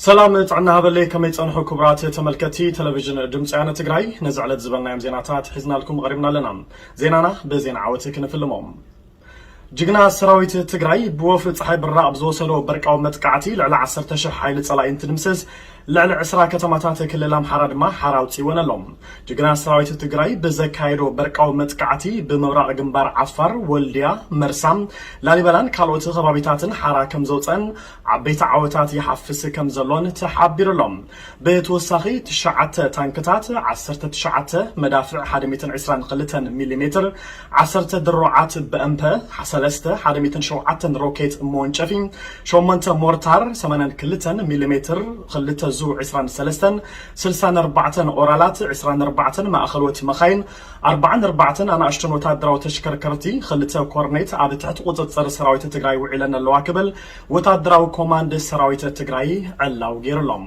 ሰላም ጥዕና ሃበለይ ከመይ ጸንሑ ክቡራት ተመልከቲ ተለቪዥን ድምፂ ወያነ ትግራይ ነዚ ዕለት ዝበልናዮም ዜናታት ሒዝናልኩም ቐሪብና ኣለና ዜናና ብዜና ዓወት ክንፍልሞ ጅግና ሰራዊት ትግራይ ብወፍሪ ፀሓይ ብራቕ ብዝወሰዶ በርቃዊ መጥቃዕቲ ልዕሊ ዓሰርተ ሽሕ ሓይሊ ፀላኢ እንትድምስስ ልዕሊ ዕስራ ከተማታት ክልል ኣምሓራ ድማ ሓራ ኣውጺወን ኣሎ። ጅግና ሰራዊት ትግራይ ብዘካየዶ በርቃዊ መጥቃዕቲ ብምብራቕ ግንባር ዓፋር፣ ወልድያ፣ መርሳ፣ ላሊበላን ካልኦት ኸባቢታትን ሓራ ከምዘውጸኣን ዓበይቲ ዓወታት ይሓፍስ ከምዘሎን ተሓቢሩ ኣሎ። ብተወሳኺ ትሽዓተ ታንክታት፣ ዓሰርተ ትሽዓተ መዳፍዕ ሓደ ሚእትን ዕስራን ክልተን ሚሊሜትር፣ ዓሰርተ ድሮዓት በእምፐ ሰለስተ ሓደ ሚእትን ሸውዓተን ሮኬት መወንጨፊ ሸሞንተ ሞርታር ሰማንያን ክልተን ሚሊ ሜትር ክልተ ዙ ዕስራን ሰለስተን ስልሳን ኣርባዕተን ኦራላት ዕስራን ኣርባዕተን ማእኸሎት መኻይን ኣርባዓን ኣርባዕተን ኣናእሽቶን ወታደራዊ ተሽከርከርቲ ክልተ ኮርኔት ኣብ ትሕቲ ቁፅፅር ሰራዊት ትግራይ ውዒለን ኣለዋ ክብል ወታደራዊ ኮማንድ ሰራዊት ትግራይ ዕላው ገይሩሎም።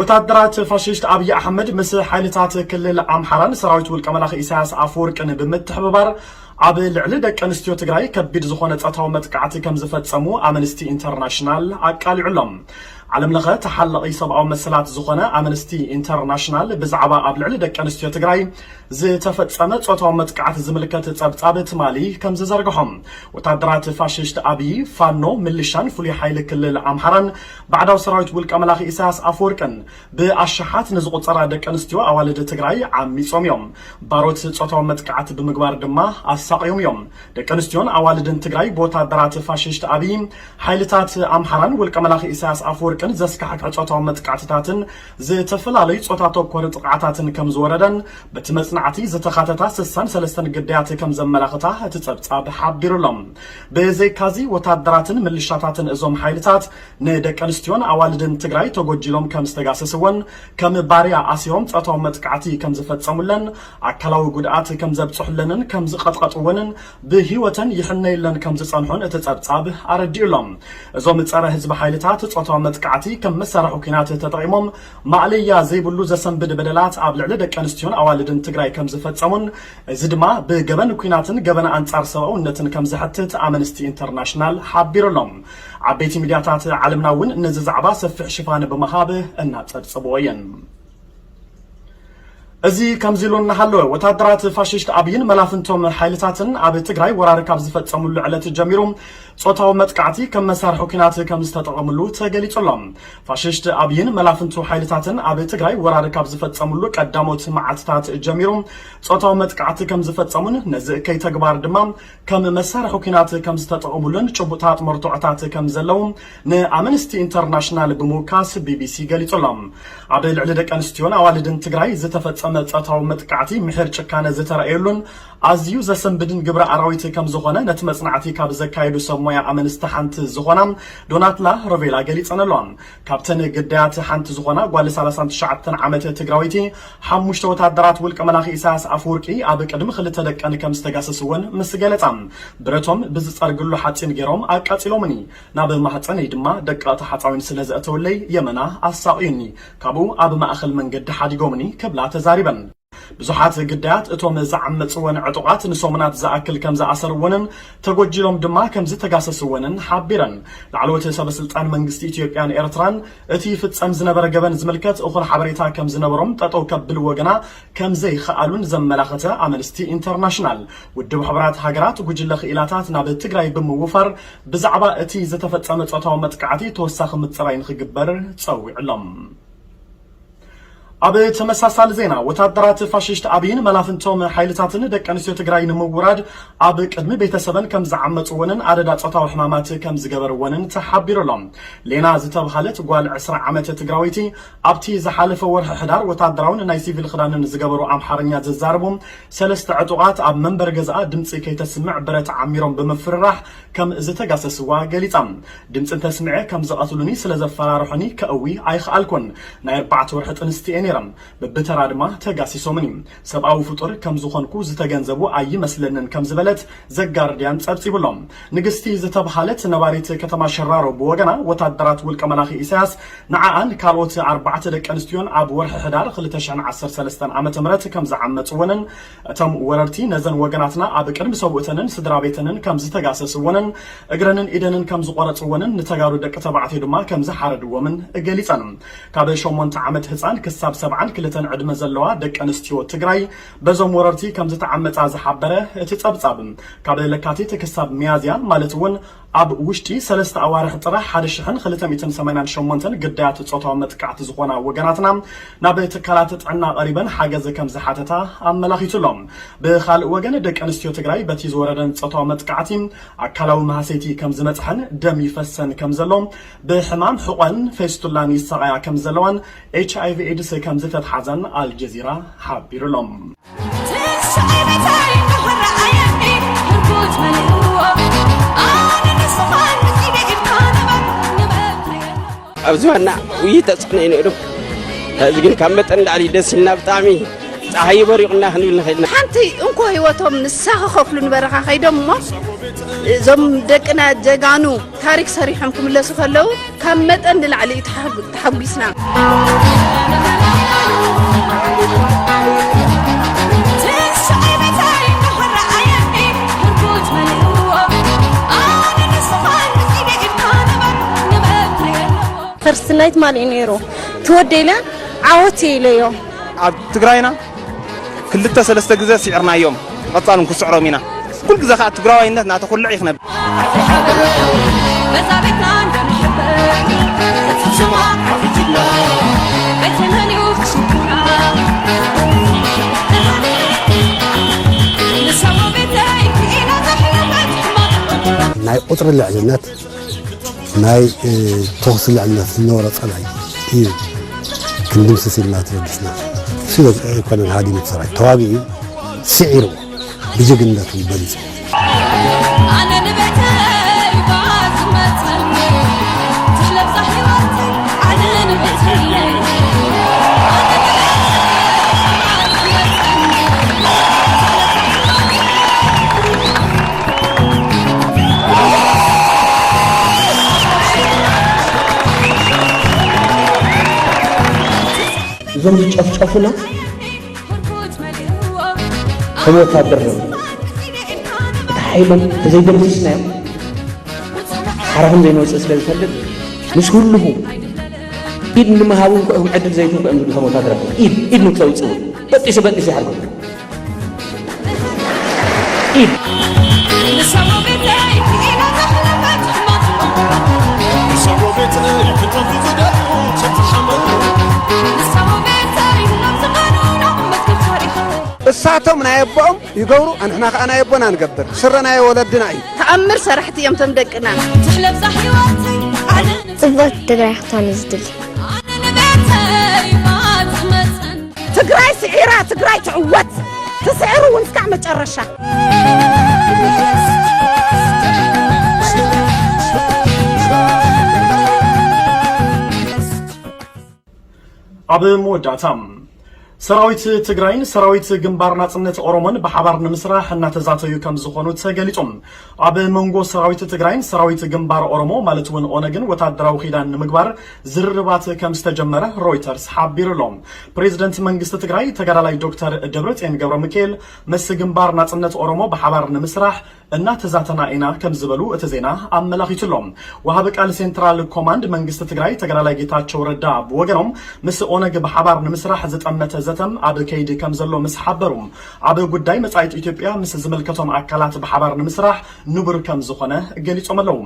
ወታደራት ፋሽስት ኣብይ ኣሕመድ ምስ ሓይልታት ክልል ኣምሓራን ሰራዊት ውልቀ መላኺ ኢሳያስ ኣፈወርቅን ብምትሕብባር ኣብ ልዕሊ ደቂ ኣንስትዮ ትግራይ ከቢድ ዝኾነ ጸታዊ መጥቃዕቲ ከምዝፈጸሙ ኣመንስቲ ኢንተርናሽናል ኣቃሊዑ ኣሎ። ዓለም ለኸ ተሓላቒ ሰብኣዊ መሰላት ዝኾነ ኣመንስቲ ኢንተርናሽናል ብዛዕባ ኣብ ልዕሊ ደቂ ኣንስትዮ ትግራይ ዝተፈጸመ ጾታዊ መጥቃዕቲ ዝምልከት ጸብጻብ ትማሊ ከምዝዘርግሖ ወታደራት ፋሽስት ኣብይ ፋኖ ምልሻን ፍሉይ ሓይሊ ክልል ኣምሓራን ባዕዳዊ ሰራዊት ውልቀ መላኺ ኢሳያስ ኣፈወርቅን ብኣሽሓት ንዝቑጸራ ደቂ ኣንስትዮ ኣዋልድ ትግራይ ዓሚጾም እዮም። ባሮት ጾታዊ መጥቃዕቲ ብምግባር ድማ ኣሳቕዮም እዮም። ደቂ ኣንስትዮን ኣዋልድን ትግራይ ብወታደራት ፋሽስት ኣብይ፣ ሓይልታት ኣምሓራን ውልቀ መላኺ ኢሳያስ ኣፈወርቅን ዘስካሕክሕ ጾታዊ መጥቃዕትታትን ዝተፈላለዩ ጾታ ተኮር ጥቕዓታትን ከም ዝወረደን በቲ መጽናዕቲ ዝተኻተታ ስሳን ሰለስተን ግዳያት ከም ዘመላኽታ እቲ ጸብጻብ ሓቢሩ ኣሎ። ብዘይካዚ ወታደራትን ምልሻታትን እዞም ሓይልታት ንደቀንስትዮን ኣዋልድን ትግራይ ተጎጂሎም ከም ዝተጋሰስወን፣ ከም ባርያ ኣሲሮም ጾታዊ መጥቃዕቲ ከም ዝፈጸሙለን፣ ኣካላዊ ጉድኣት ከም ዘብጽሑለንን ከም ዝቐጥቀጡወንን ብህይወተን ይሕነዩለን ከም ዝጸንሑን እቲ ጸብጻብ ኣረዲኡ ኣሎ። እዞም ጸረ ህዝቢ ሓይልታት ጾታዊ መጥቃዕቲ ከም መሳርሒ ኲናት ተጠቒሞም ማእለያ ዘይብሉ ዘሰንብድ በደላት ኣብ ልዕሊ ደቀንስትዮን ኣዋልድን ትግራይ ከም ዝፈጸሙን እዚ ድማ ብገበን ኲናትን ገበን ኣንጻር ሰብኣውነትን ከም ዘሕትት ኣመንስቲ ኢንተርናሽናል ሓቢሩ ኣሎ። ዓበይቲ ሚድያታት ዓለምና እውን ነዚ ዛዕባ ሰፊሕ ሽፋን ብምሃብ እናጸብጸብዎ እየን። እዚ ከምዚ ኢሉ እናሃለወ ወታደራት ፋሽስት ኣብይን መላፍንቶም ሓይልታትን ኣብ ትግራይ ወራር ካብ ዝፈጸምሉ ዕለት ጀሚሩ ጾታዊ መጥቃዕቲ ከም መሳርሒ ኲናት ከም ዝተጠቐምሉ ተገሊጹ ኣሎ። ፋሽስት ኣብይን መላፍንቱ ሓይልታትን ኣብ ትግራይ ወራር ካብ ዝፈፀምሉ ቀዳሞት መዓልትታት ጀሚሩ ፆታዊ መጥቃዕቲ ከም ዝፈፀሙን ነዚ እከይ ተግባር ድማ ከም መሳርሒ ኲናት ከም ዝተጠቐሙሉን ጭቡጥታት መርትዖታት ከም ዘለዉ ንኣመንስቲ ኢንተርናሽናል ብምውካስ ቢቢሲ ገሊፁ ኣሎ። ኣብ ልዕሊ ደቂ ኣንስትዮን ኣዋልድን ትግራይ ዝተፈፀመ ፆታዊ መጥቃዕቲ ምሒር ጭካነ ዝተረኣየሉን ኣዝዩ ዘሰንብድን ግብረ ኣራዊት ከም ዝኾነ ነቲ መጽናዕቲ ካብ ዘካየዱ ሰብ ሞያ ኣመንስቲ ሓንቲ ዝኾና ዶናትላ ሮቬላ ገሊጸን'ሎ። ካብተን ግዳያት ሓንቲ ዝኾና ጓል ሰላሳን ትሽዓተን ዓመት ትግራወይቲ፣ ሓሙሽተ ወተሃደራት ውልቀ መላኺ ኢሳያስ ኣፈወርቂ ኣብ ቅድሚ ክልተ ደቀን ከም ዝተጋሰስወን ምስ ገለጻ፣ ብረቶም ብዝጸርግሉ ሓጺን ገይሮም ኣቃጺሎምኒ፣ ናብ ማህጸነይ ድማ ደቀቕቲ ሓጻዊን ስለ ዘእተውለይ የመና ኣሳቕዩኒ፣ ካብኡ ኣብ ማእከል መንገዲ ሓዲጎምኒ ክብላ ተዛሪበን። ብዙሓት ግዳያት እቶም ዝዓመጽወን ዕጡቓት ንሰሙናት ዝኣክል ከም ዝኣሰርወንን ተጎጂሎም ድማ ከም ዝተጋሰስወንን ሓቢረን። ላዕለዎት ሰበስልጣን መንግስቲ ኢትዮጵያን ኤርትራን እቲ ይፍጸም ዝነበረ ገበን ዝምልከት እኹል ሓበሬታ ከም ዝነበሮም ጠጠው ከብልዎ ግና ከም ዘይኸኣሉን ዘመላኸተ ኣመንስቲ ኢንተርናሽናል ውድብ ሕቡራት ሃገራት ጉጅለ ክኢላታት ናብ ትግራይ ብምውፋር ብዛዕባ እቲ ዝተፈጸመ ጾታዊ መጥቃዕቲ ተወሳኺ ምጽራይ ንኽግበር ጸዊዑ'ሎ። ኣብ ተመሳሳሊ ዜና ወታደራት ፋሽስት ኣብይን መላፍንቶም ሓይልታትን ደቂ ኣንስትዮ ትግራይ ንምውራድ ኣብ ቅድሚ ቤተሰበን ከም ዝዓመፅወንን ኣደዳ ፆታዊ ሕማማት ከም ዝገበርወንን ተሓቢሩ ኣሎ። ሌና ዝተብሃለት ጓል ዕስራ ዓመት ትግራወይቲ ኣብቲ ዝሓለፈ ወርሒ ሕዳር ወታደራውን ናይ ሲቪል ኽዳንን ዝገበሩ ኣምሓርኛ ዝዛረቡ ሰለስተ ዕጡቓት ኣብ መንበሪ ገዝኣ ድምፂ ከይተስምዕ ብረት ዓሚሮም ብምፍርራሕ ከም ዝተጋሰስዋ ገሊፃ። ድምጺ እንተስሚዐ ከም ዝቐትሉኒ ስለ ዘፈራርሑኒ ከእዊ ኣይኸኣልኩን። ናይ ኣርባዕተ ወርሒ ጥንስቲ እየ ነይረ። ብብተራ ድማ ተጋሲሶምኒ። ሰብኣዊ ፍጡር ከም ዝኾንኩ ዝተገንዘቡ ኣይመስለንን ከም ዝበለት ዘጋርድያን ጸብጺቡ ኣሎ። ንግስቲ ዝተብሃለት ነባሪት ከተማ ሸራሮ ብወገና ወታደራት ውልቀ መላኺ ኢሳያስ ንዓኣን ካልኦት ኣርባዕተ ደቂ ኣንስትዮን ኣብ ወርሒ ሕዳር ክልተ ሽሕን ዓሰርተ ሰለስተን ዓመተ ምህረት ከም ዝዓመጽወንን እቶም ወረርቲ ነዘን ወገናትና ኣብ ቅድሚ ሰብኡተንን ስድራቤተንን ከም ዝተጋሰስወንን እግረንን ኢደንን ከም ዝቖረጽወንን ንተጋሩ ደቂ ተባዕትዮ ድማ ከም ዝሓረድዎምን ገሊጸን። ካብ ሸሞንተ ዓመት ህጻን ክሳብ ሰብዓን ክልተን ዕድመ ዘለዋ ደቂ ኣንስትዮ ትግራይ በዞም ወረርቲ ከም ዝተዓመጻ ዝሓበረ እቲ ጸብጻብ፣ ካብ ለካቲት ክሳብ ሚያዝያ ማለት'ውን ኣብ ውሽጢ ሰለስተ ኣዋርሕ ጥራሕ ሓደ ሽሕን ክልተ ሚእትን ሰማንያን ሸሞንተን ግዳያት ጾታዊ መጥቃዕቲ ዝኾና ወገናትና ናብ ትካላት ጥዕና ቀሪበን ሓገዝ ከምዝሓተታ ኣመላኺቱ ኣሎ። ብኻልእ ወገን ደቂ ኣንስትዮ ትግራይ በቲ ዝወረደን ጾታዊ መጥቃዕቲ ኣካላዊ ማህሰይቲ ከምዝመጽሐን ደም ይፈሰን ከምዘሎ ብሕማም ሕቆን ፌስቱላን ይሳቐያ ከምዘለዋን ኤችኣይቪ ኤድስ ከምዝተትሓዘን ኣልጀዚራ ሓቢሩ ኣሎ። ኣብ ዝባና ውይ ተፅዕኖ እዩ ነይሩ ሕዚ ግን ካብ መጠን ላዕሊ ደስ ኢልና ብጣዕሚ ፀሓይ በሪቑና ክንብል ንኽእል ኢና ሓንቲ እንኮ ህይወቶም ንሳ ክኸፍሉ ንበረኻ ከይዶም እሞ እዞም ደቅና ጀጋኑ ታሪክ ሰሪሖም ክምለሱ ከለው ካብ መጠን ንላዕሊ እዩ ተሓጒስና። ፈርስት ናይት ማን እዩ ነይሩ ትወደይለ ዓወት ኢለዮ ኣብ ትግራይና ክልተ ሰለስተ ግዘ ሲዕርናዮም ብቀፃሉ ንክስዕሮም ኢና ኩሉ ግዘ ከዓ ትግራዋይነት እናተኩልዕ እዩ ክነብ ናይ ቁፅሪ ልዕልነት ናይ ተኹሲ ልዕልነት ዝነበሮ ፀላኢ እዩ ክንድምስስ ኢልና ተበጊስና ስለ ኮነን ሃዲሙ ሰራዊት ተዋጊኡ ስዒርዎ ብጀግንነቱ በሊፁ እዞም ዝጨፍጨፉና ከም ወታደር ነ እቲ ሓይሎም ተዘይደምስስናዮም ሓራ ከም ዘይንወፅእ ስለ ዝፈልጥ ምስ ህልኹ ኢድ ንምሃብ እውን ክኦም ዕድል ዘይትንኩ እዮም ዝብሉ ከም ወታደር ኢድ ኢድ ንክተውፅኡ በጢሱ በጢሱ ይሓርጎ እሳቶም ናይ ኣቦኦም ይገብሩ ኣንሕና ከዓ ናይ ኣቦና ንገብር ስረ ናይ ወለድና እዩ ተኣምር ሰራሕቲ እዮም ቶም ደቅና ጽብቕቲ ትግራይ ክትኮነ ዝድሊ ትግራይ ስዒራ ትግራይ ትዕወት ትስዕር እውን እስካዕ መጨረሻ ኣብ መወዳእታ ሰራዊት ትግራይን ሰራዊት ግንባር ናፅነት ኦሮሞን ብሓባር ንምስራሕ እናተዛተዩ ከምዝኾኑ ተገሊፁ። ኣብ መንጎ ሰራዊት ትግራይን ሰራዊት ግንባር ኦሮሞ ማለት'ውን ኦነግን ወታደራዊ ኪዳን ንምግባር ዝርርባት ከምዝተጀመረ ሮይተርስ ሓቢሩ'ሎ። ፕሬዝደንት መንግስቲ ትግራይ ተጋዳላይ ዶክተር ደብረፅዮን ገብረሚካኤል ምስ ግንባር ናፅነት ኦሮሞ ብሓባር ንምስራሕ እናተዛተና ኢና ከምዝበሉ እቲ ዜና ኣመላኺቱ'ሎ። ወሃቢ ቃል ሴንትራል ኮማንድ መንግስቲ ትግራይ ተጋዳላይ ጌታቸው ረዳ ብወገኖም ምስ ኦነግ ብሓባር ንምስራሕ ዝጠመተ ዘተም ኣብ ከይዲ ከምዘሎ ምስ ሓበሩ ኣብ ጉዳይ መጻኢት ኢትዮጵያ ምስ ዝምልከቶም ኣካላት ብሓባር ንምስራሕ ንቡር ከም ዝኾነ ገሊጾም ኣለው።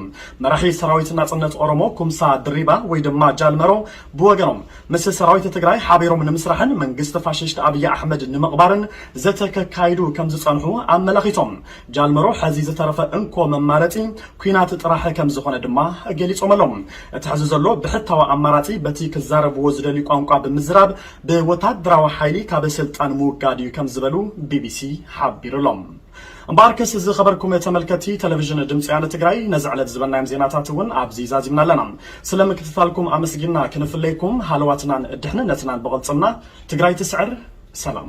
መራሒ ሰራዊት ናጽነት ኦሮሞ ኩምሳ ድሪባ ወይ ድማ ጃል መሮ ብወገኖም፣ ምስ ሰራዊት ትግራይ ሓቢሮም ንምስራሕን መንግስቲ ፋሽስት ኣብይ ኣሕመድ ንምቕባርን ዘተ ከካይዱ ከም ዝጸንሑ ኣመላኺቶም። ጃል መሮ ሕዚ ዝተረፈ እንኮ መማረጺ ኲናት ጥራሕ ከም ዝኾነ ድማ ገሊጾም ኣለው። እቲ ሕዚ ዘሎ ብሕታዊ ኣማራጺ በቲ ክዛረብዎ ዝደልዩ ቋንቋ ብምዝራብ፣ ብወታደራዊ ሓይሊ ካብ ስልጣን ምውጋድ እዩ ከም ዝበሉ ቢቢሲ ሓቢሩ ኣሎ። እምበኣርከስ ዝኸበርኩም ተመልከቲ ተለቪዥን ድምፂ ወያነ ትግራይ ነዚ ዕለት ዝበልናዮም ዜናታት እውን ኣብዚ ዛዚምና ኣለና። ስለ ምክትታልኩም ኣመስጊንና ክንፍለይኩም ሃለዋትናን ድሕንነትናን ብቕልፅምና ትግራይ ትስዕር! ሰላም!